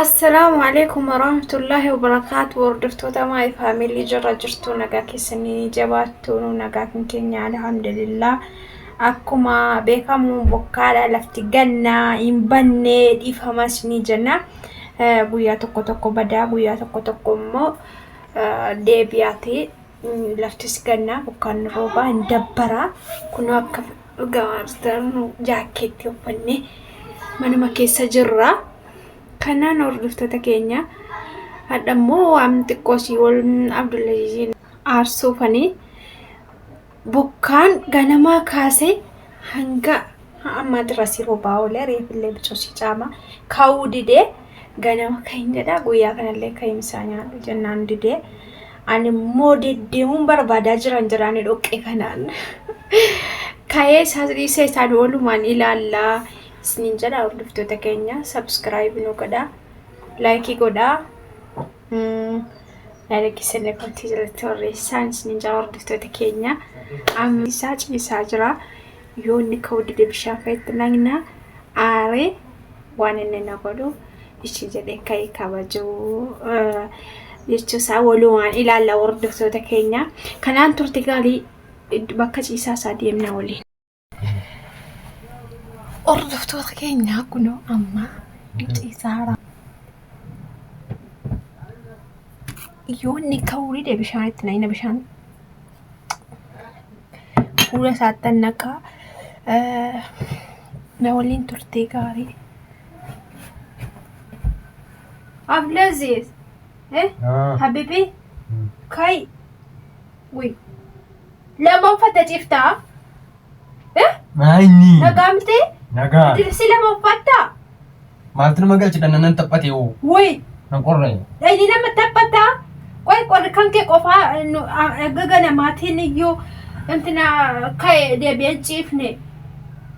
Assalaamu alaikum warahmatullahi wabarakaatu hordoftoota maay faamilii jirra jirtu nagaa keessanii jabaattu nu nagaa kan keenya alhamdulillah akkuma beekamu bokkaadha lafti gannaa hin banne dhiifamas ni jenna Eh, guyyaa tokko tokko badaa guyyaa tokko tokko immoo eh, deebi'aati Mm, laftis gannaa bokkaan roobaa hin dabbara kunoo akka Dhugaa maastar nu jaakkeetti uffannee manuma keessa jirra. Kanaan hordoftoota keenya hadha immoo waan xiqqoo si wal Abdullaziziin aarsuufanii bokkaan ganamaa kaasee hanga ammaa xirasii roobaa oolee reefillee bicoosii caamaa kaa'uu didee ganama kan jedhaa guyyaa kanallee kan isaa nyaadhu jennaan didee ani immoo deddeemuun barbaadaa jiran jiraani dhoqqee kanaan ka'ee isaa dhiisee isaan oolumaan ilaallaa isiniin jedha hordoftoota keenya sabskiraayibii nu godha laayikii godhaa yaada keessan irratti irratti barreessaan isiniin jedha hordoftoota keenya amma isaa ciisaa jira yoo inni ka'uu dide bishaan fa'itti naqna aaree waan inni na godhu ishii jedhee ka'e kabajuu eh, jechuusaa walumaan ilaalla hordoftoota keenya kanaan turte gaarii id- bakka ciisaa isaa deemna waliin. Hordoftoota keenya kunoo amma ciisaara yoonni ka'uu dide bishaan itti naqina bishaan fuula isaattan naqaa na waliin turtee gaarii Abdulaziz eh habibi kai ui lama uffata ciftaa Maayini. Nagaa miti? Nagaa. Diribsii lama uffattaa? Maaltu nama galche dhannanan taphate hoo? Woy! Nan qorre. Dhayni nama taphataa? Qoy qorri kan kee qofaa nu gaga namaatiin iyyuu intina ka'e deebi'een ciifne.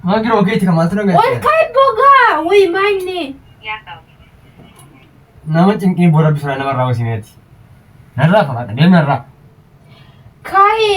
Maa giroo keeti kan maaltu na Ol galche? ka'e bogaa! Woy maayini! Nama cinqii bora bisulaa namarraa hosimee ati. Narraa fagaadha deemnarraa. Ka'e!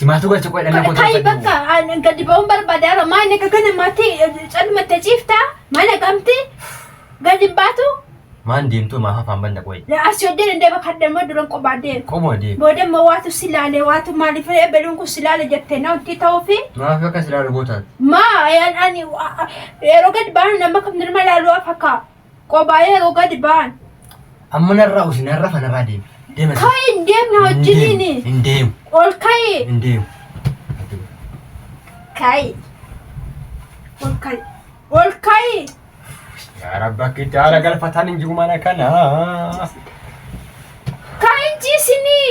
Simaatu galcha qoy dhanna koo Kai bakka gadi ba'uun barbaadaara maa inni akka kana maatii calmatte ciifta mana gamti gadi hin baatu Maan deemtu maa hafaan banna qoy. asii hojii dandee bakka adda immoo duran qophaa deema. Qoma deem. Booda immoo waatu si laale waatu maaliif ebeluun kun si laale jettee na wanti ta'uu fi Maaf akka silaa lubootaati. maa ayaan ani yeroo gadi baanu nama kam nirma laaluu afakkaa. Qobaa yeroo gadi ba'an. Amma narraa usi narra fanarraa deemi. Deema. Ka'i hin deemne wajjiniini. Hin deemu. Ol ka'i. Hin deemu. Ka'i. Ol ka'i. Ol ka'i. Yaa rabbi akka itti haala galfataan hin jiru mana kana. Ka'i hin ciisinii.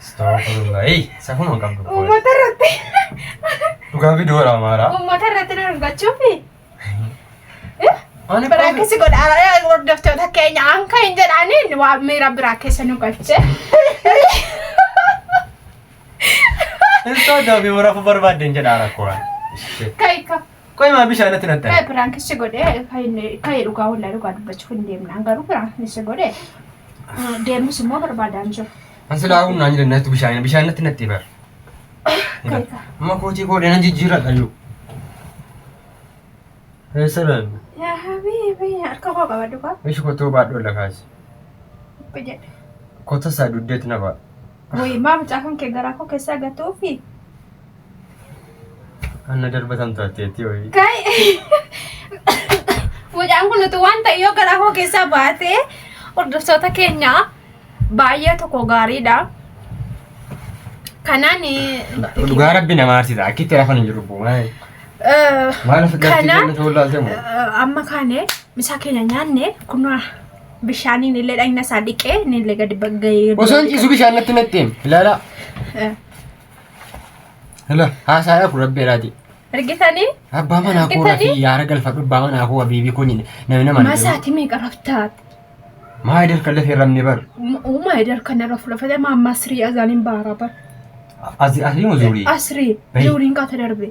Astagfirullahi. Safuu man qabdu. qoy. Uummata irratti Dhugaa fi doora amaaraa. uummata irratti na dubbachuufi. Ani Biraakkeessi godhaara hordoftoota keenya anka hin jedhaniin waa miira biraa keessa nu galche. Hin sooddaa fi warafu barbaadden jedhaa rakkoo. Kaika. Qoy maa bishaan natti naxxan. Ee piraanki si godhe ka'ee dhugaa wallaa dhugaa dubbachuuf hin deemnaan garuu piraanki si godhe deemus immoo barbaadaan jiru. An silaa humna hin jiran natti bishaan bishaan natti natti bar. Kayka. Amma kootii koodhee nan jijjiira qayyuu. Eessa dhaan? Yaa habiibi harka koo qaba dhugaa. Ishi kotoo baadhoo lakaasi. Jedhe. Kota isaa dugdeetti na ba'a. Wayii maa mucaa kan kee garaa koo keessaa gatuufi. Anna darbatan taateetti ho'i. Kai. Mucaan kun utuu waan ta'e yoo garaa koo keessaa baatee hordoftoota keenya baay'ee tokko gaariidha. Kanaan Dhugaa rabbi nama aarsiisa. Akkitti rafan hin jiru bu'umaa. Maal of gartii Kana- kennu ta'uu laaltee moo? amma kaane misaa keenya nyaanne kun bishaaniin illee dhagna isaa dhiqee inni illee gadi bagga'ee. Osoo hin ciisu bishaan natti natti hin. Ilaalaa. Eh. Hala haasaadhaaf rabbi jedhaati. Ergitanii? Abbaa manaa koo Ergitanii? rafii yaara galfadhu abbaa manaa koo habiibii kun namni nama hin jedhu. Masaati meeqa raftaat? Maa idil kan lafee rabni bar. Uumaa edar kana rafu lafate maa masrii azaaniin baara bar. Asii asii muzuurii. Asrii Bayi. zuuriin kaata darbe.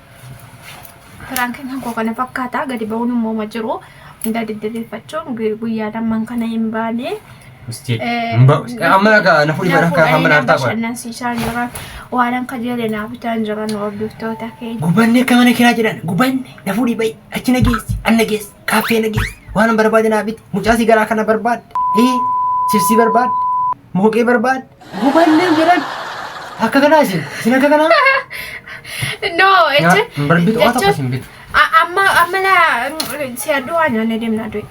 Piraankiin koo kana fakkaata gadi ba'uun immoo ma jiru hundaa deddebeeffachuun guyyaa lamman kana hin baane. Amma akka na fuudhi bara akka amma naaf ta'a. Bashannansiisaan jiran waanan kajeele naa bitaan jiran hordoftoota keenya. Gubanne akka mana kiraa jedhan gubanne na fuudhi ba'i achi na geessi an na geessi kaaffee na geessi waanan barbaade naa biti mucaa si garaa kana barbaadde ee sibsii barbaadde. Mooqee barbaadde. Gubannee jedhan. Akka kanaa isin. Isin akka kanaa. No, jecha. Hin barbitu. Waa tokko isin bitu. A- amma amma la si adduu waan nyaanne deemnaa du'e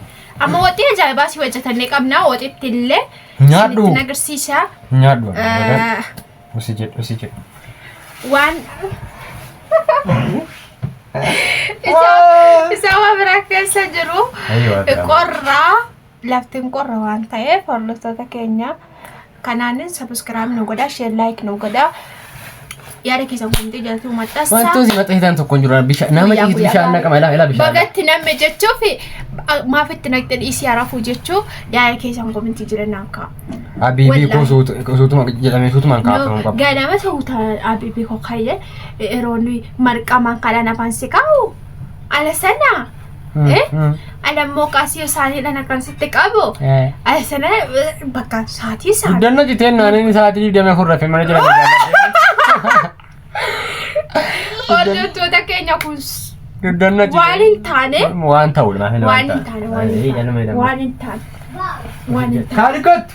amma waxii ajaa'ibaa si hojjetannee qabna waxitti illee Nyaadhu. isinitti agarsiisa Nyaadhu. Eh, Usi jedhu usi jedhu. waan isaa isaa waa biraa keessa jiru Ayyo, adda. qorraa Laftin qorra waan ta'eef hordoftoota keenya kanaanin sabiskiraayib nu godha sheer laayik nu godha yaada keessan komitee jalatti maxxansa. Wantoonni maxxansitan tokko hin jiru bishaan nama Guyyaa ciisu guyyaa bishaan baala. naqama ilaa ilaa bishaan. Bagatti namme jechuuf maaf itti naqxee dhiisii harafuu jechuu yaada keessan komitii jirenyaan ka'a. Abiibii Wallahi. koo suutu- suutuma jedhamee suutumaan kaafamuu qaba. Ganama suuta abiibii koo kayyee yeroo nuyi marqamaan kadhaan afaan si kaa'u ala sana Ana immoo qaasii isaaniidhaan akkan sitti qabu. Sana bakka saatii isaa. Guddanna citeen naannin sa'aatii digdamii afur rafee mana jala Hordoftoota keenya kun Guddanna waan hin taane Waan ta'u waan hin taane waan hin taane waan hin taane. Kaalikottu.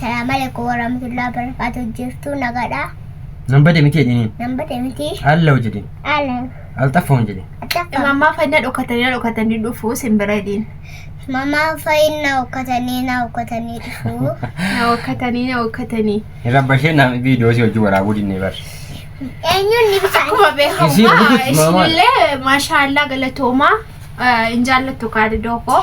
Salaam alaikum warahmatullahi wabarakatuh jirtuu nagadha Nan bade miti jedhiniin. nan bade miti Allahu jedhin. ala Alxaffa hin jedhin. attafa Mammaa fayina dhokatanii na dhokatanii dhufuu sin bira hidhiin. mamaa fayin na hokkatanii na hokkatanii dhufuu Na hokkatanii na hokkatanii. Hin rabbashee naam viidiyoo si hojii waraabuu dinnee bar. eenyuun ni bishaan Akkuma Isii beekamu rukututti maamaa. isinillee maashaallah galatoomaa eh, hin jaallattu kaadidoo koo.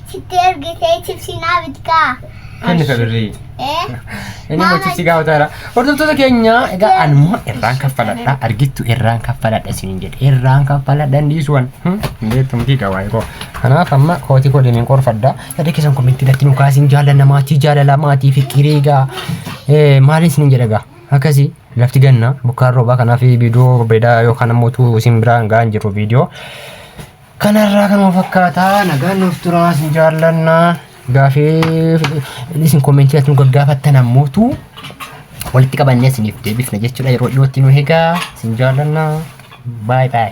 Sitti ergitee chipsii naa bitkaa. Kenni ka birrii. Eh? Inni immoo Maama- chipsii gaafata jira. Hordoftoota keenya egaa Itti ani immoo ergitee irraan chipsii kaffaladha. kana. Argittu irraan kaffaladha isiniin jedhe. Irraan kaffaladha hin dhiisuwan. Beektu miti egaa waa'ee koo. Kanaaf amma kootii koo deemeen qorfadha. Yaada keessan komentii irratti nu kaasiin jaallanna maatii jaalala maatii fikirii egaa. Eh, Maaliin isiniin jedha egaa. Akkasii lafti ganna bokkaan roobaa kanaaf viidiyoo bareedaa yookaan ammoo utuu isin biraan ga'an jiru viidiyoo. Kanarraa kanuma fakkaataa nagaan nuuf turaa isin jaallannaa. Gaafee isin kommentii irratti nu gaggaafattan ammootu walitti qabannee isiniif deebifna jechuudha yeroo dhiyootti nu egaa isin jaallannaa. Baay baay.